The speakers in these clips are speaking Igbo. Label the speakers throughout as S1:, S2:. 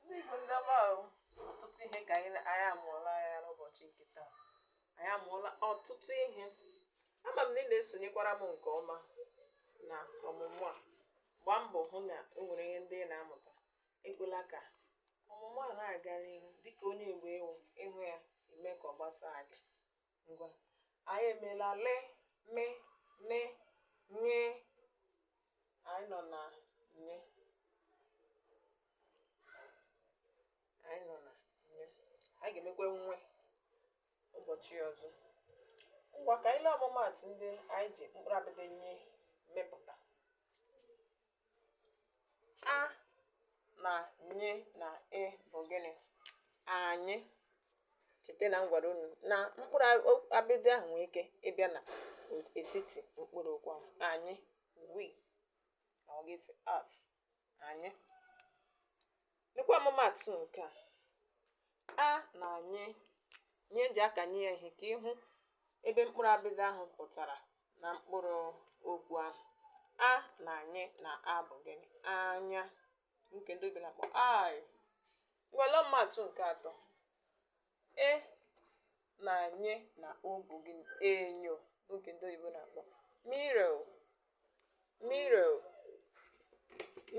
S1: ndị Igbo ndị ọma ahụ ọtụtụ ihe ka anyị na- anyị amụọla ya n'ụbọchị nke taa anyị amụọla ọtụtụ ihe ama m na ị na-esonyekwara m nke ọma na ọmụmụ a gbaa mbọ hụ na o nwere ihe ndị ị na-amụta ekwela ka ọmụmụ a na-aga n'ihu dịka onye Igbo i wu ị hụ ya i mee ka ọ gbasaa gị ngwa anyị emeela le me ne nye anyị nọ na nye anyị nọ na nye anyị ga-emekwa nwe ụbọchị ọzọ ngwa ka anyị lee ọmụmaatụ ndị anyị ji mkpụrụ abịdị nye mepụta A na nye na ị bụ gịnị? Anyị. Cheta na m gwara unu na mkpụrụ abịdị ahụ nwee ike ịbịa na etiti mkpụrụ okwu ahụ. Anyị, we, na ọ ga-esi us, anyị. Lekwa ọmụmaatụ nke a. A na nye ihe e ji akanye ya ihe ka ị hụ ebe mkpụrụ abịdị ahụ pụtara na mkpụrụ okwu ahụ. A na nye na a bụ gịnị? Anya. Nke ndị oyibo na-akpọ eye. Ngwa lee ọmụmaatụ nke atọ. E na nye na o bụ gịnị? Enyo nke ndị oyibo na-akpọ mirror. Mirror.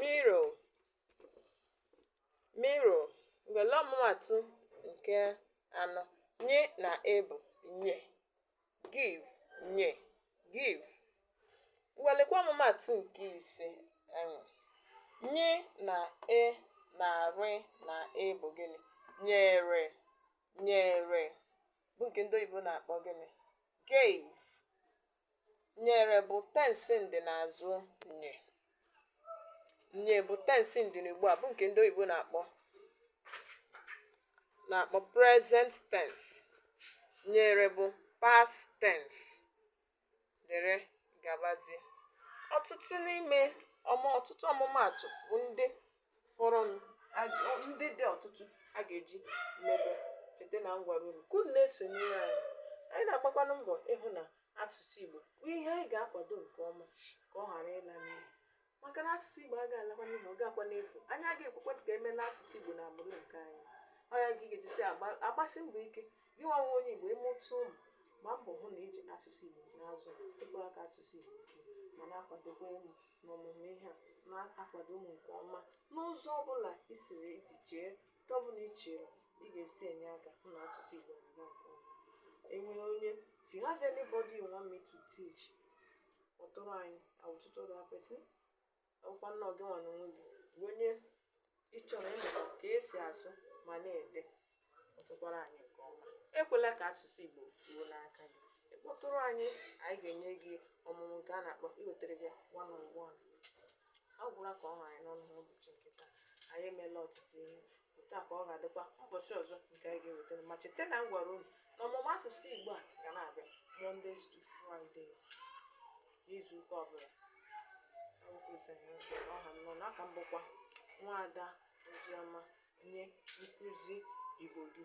S1: Mirror. Mirror ngwa lee ọmụmaatụ nke anọ nye na e bụ nye give nye give ngwa lekwa ọmụmaatụ nke ise ahụ nye na e na re na e bụ gịnị nyere nyere bụ nke ndị oyibo na-akpọ gịnị gave nyere bụ tensi ndị n'azụ nye nye bụ tensi ndị n'ugbu a bụ nke ndị oyibo na-akpọ present tense nyere bụ past tense dere gabazie ọtụtụ n'ime ọmụ ọtụtụ ọmụmaatụ bụ ndị fọrọnụ ndị dị ọtụtụ a ga-eji mebe cheta na m gwara unu ka unu na-esonyere anyị anyị na-agbakwanụ mbọ ịhụ na asụsụ Igbo bụ ihe anyị ga-akwado nke ọma ka ọ ghara ịla n'iyi maka na asụsụ Igbo agaghị alakwa n'iyi ọ ga-akwa n'efu anyị agaghị ekwekwa ka e mela asụsụ Igbo na agbụrụ nke anyị ọ ya ka ị ga-eji si agbasi mbọ ike gị nwa wụ onye Igbo ị mụta ụmụ gbaa mbọ hụ na i ji asụsụ Igbo na-azụ ịkpọrọ aka asụsụ Igbo ma na-akwadokwa elu n'ọmụmụ ihe a na-akwadonụ mụ nke ọma n'ụzọ ọbụla i siri iji chee nke ọbụla i chere ị ga-esi enye aka hụ na asụsụ Igbo na-aga nke ọma e nwere onye if you have anybody you want me to teach kpọtụrụ anyị I will tutor that person ọ bụkwa na ọ gị nwa na onwe gị bụ onye Ị chọrọ ịmụta ka e si asụ ma na-ede kpọtụkwara anyị nke ọma ekwela ka asụsụ Igbo fuo n'aka gị ị kpọtụrụ anyị anyị ga-enye gị ọmụmụ nke a na-akpọ iwetere gị one on one ọ gwụla ka ọ ha anyị n'ọnụ n'ụbọchị nke taa anyị emeela ọtụtụ ihe otu a ka ọ ga-adịkwa ụbọchị ọzọ nke anyị ga-ewetara ma cheta na m gwara unu na ọmụmụ asụsụ Igbo a ga na-abịa Mondays to Fridays n'izu ụka ọbụla ọ gwụzi ka ọ ha m n'ọnụ a ka m bụkwa nwaada oziọma onye nkụzi igbo gị